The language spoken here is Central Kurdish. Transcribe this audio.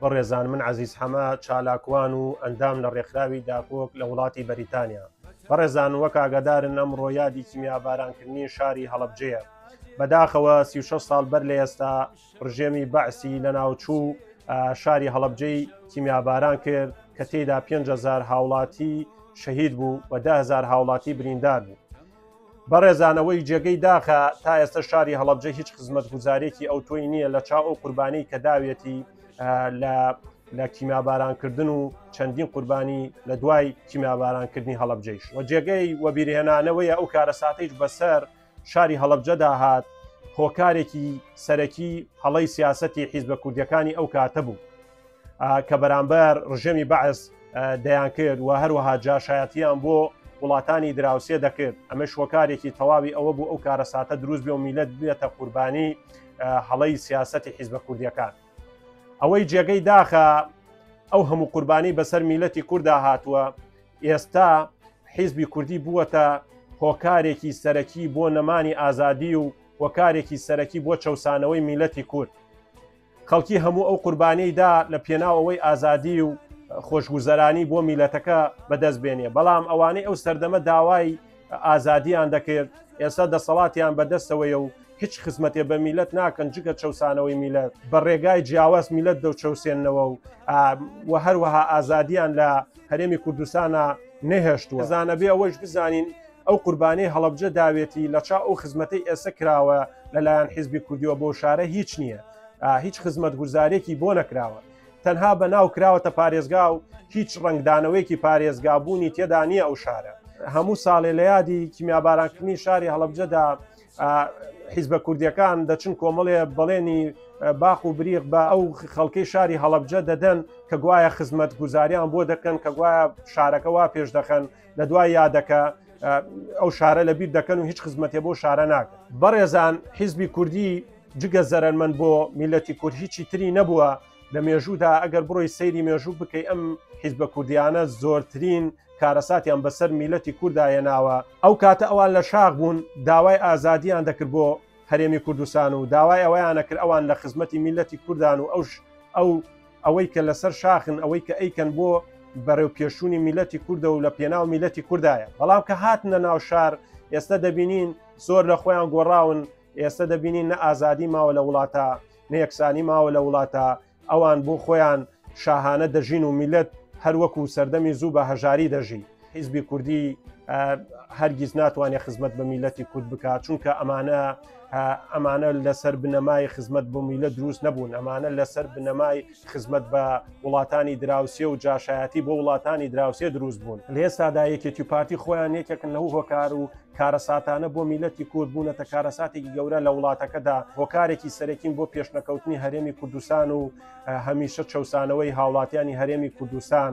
بەڕێزان من عزیز حەمە چالاکوان و ئەندام لە ڕێکخراوی داکۆک لە وڵاتی بەریتانیا بەڕێزان وەک ئاگادارن ئەم ڕۆیادی کیمیابارانکردنی شاری هەڵبجەیە بەداخەوە سی ساڵ بەر لە ئێستا ڕژێمی بەعسی لە ناوچوو شاری هەڵبجەی کیمیاباران کرد کە تێدا 5هزار هاوڵاتی شەهید بوو و دههزار هاوڵاتی بریندار بوو بەڕێزان ئەوەی جێگەی داخە تا ئێستا شاری هەڵبجە هیچ خزمەت گوزارێکی ئەو تۆی نییە لە چاو ئەو قوربانی کە داوێتی لە لە کیمابارانکردن و چەندین قوربانی لە دوای کیمابارانکردنی هەڵبجەیش و جێگەی وەبیرهێنانەوەی ئەو کارە ساتەیش بەسەر شاری هەڵبجەدا هات هۆکارێکی سەرەکی هەڵی سیاستی حیزبە کوردەکانی ئەو کاتە بوو کە بەرامبەر ڕژێمی بەعس دەیان کرد و هەروەها جاشایەتیان بۆ وڵاتانی دراوسێ دەکرد ئەمە شۆکارێکی تەواوی ئەوە بوو ئەو کارە ساتە دروست بێ و میلەت بێتە قوربانی هەڵی سیاستی حیزبە کوردیەکان ئەوەی جێگەی داخە ئەو هەموو قوربانی بەسەر میلەتی کووردا هاتووە ئێستا حیزبی کوردی بووەتە هۆکارێکی سەرەکی بۆ نەمانی ئازادی و هۆکارێکی سەرەکی بۆ چەسانەوەی میلەتی کورد خەڵکی هەموو ئەو قوربانیەی دا لە پێناو ئەوەی ئازادی و خۆشگوزەرانی بۆ میلەتەکە بەدەست بێنێ بەڵام ئەوانەی ئەو سەردەمە داوای ئازادیان دەکرد ئێستا دەسەڵاتیان بەدەستەوەیە و هیچ خزمەتێ بە میلەت ناکەن جگە چەسانەوەی میلەت بە ڕێگای جیاواز میلەت دەو چەوسێنەوە و و هەروەها ئازادیان لە هەرێمی کوردستانە نەهێشتوە زانەبێ ئەوەش بزانین ئەو قوربانیەی هەڵەبجە داوێتی لە چا ئەو خزمەتەی ئێسە کراوە لەلایەن حیزبی کوردیوە بۆ شارە هیچ نییە هیچ خزمەت گوزارێکی بۆ نەکراوە تەنها بە ناو کراوەتە پارێزگا و هیچ ڕنگدانەوەیکی پارێزگابوونی تێدا نییە ئەو شارە هەموو ساڵێ لە یادی کیمیابارانکردنی شاری هەڵبجەدا حیزبە کوردیەکان دەچن کۆمەڵێ بەڵێنی باخ و بریق بە ئەو خەڵکەی شاری هەڵبجە دەدەن کە گوایە خزمەت گوزاریان بۆ دەکەن کە گوایە شارەکەوا پێش دەخەن لە دوای یادەکە ئەو شارە لە بیر دەکەن و هیچ خزمەتێ بۆ شارە ناکە بەڕێزان حیزبی کوردی جگە زەرمن بۆ میلەتی کورد هیچی تری نەبووە لە مێژوودا ئەگەر بڕۆی سەیری مێژوو بکەی ئەم حیزبە کوردیانە زۆرترین کارەساتیان بەسەر میلەتی کوردایە ناوە ئەو کاتە ئەوان لە شاخ بوون داوای ئازادیان دەکرد بۆ هەرێمی کوردستان و داوای ئەویانە کرد ئەوان لە خزمەتی میلەتی کوردان و ئەوش ئەو ئەوەی کە لەسەر شاخن ئەوەی کە ئەیکەن بۆ بەرەو پێشوونی میلەتی کوردە و لە پێناو میلەتی کوردایە بەڵام کە هاتنە ناو شار ئێستا دەبینین زۆر لە خۆیان گۆڕاون ئێستا دەبینین نە ئازادی ماوە لە وڵاتە نەیەکسانی ماوە لە وڵاتە ئەوان بۆ خۆیان شاهانە دەژین و میلەت هەروەکو سەردەمی زوو بە هەژاری دەژین حیزبی کوردی هەرگیز ناتوانێت خزمەت بە میلەتی کورد بکات چونکە ئەمانە ئەمانە لەسەر بنەمای خزمەت بۆ میلە دروست نەبوون ئەمانە لەسەر بنەمای خزمەت بە وڵاتانی دراوسێ و جاشایەتی بۆ وڵاتانی دراوسێ دروست بوون لێستادا یەکێتی پارتی خۆیان یەکێکن لەو هۆکار و کارەساتانە بۆ میلەتی کورد بوونەتە کارەساتێکی گەورە لە وڵاتەکەدا هۆکارێکی سەرەکین بۆ پێشنەکەوتنی هەرێمی کوردستان و هەمیشە چەسانەوەی هاوڵاتیانی هەرێمی کوردستان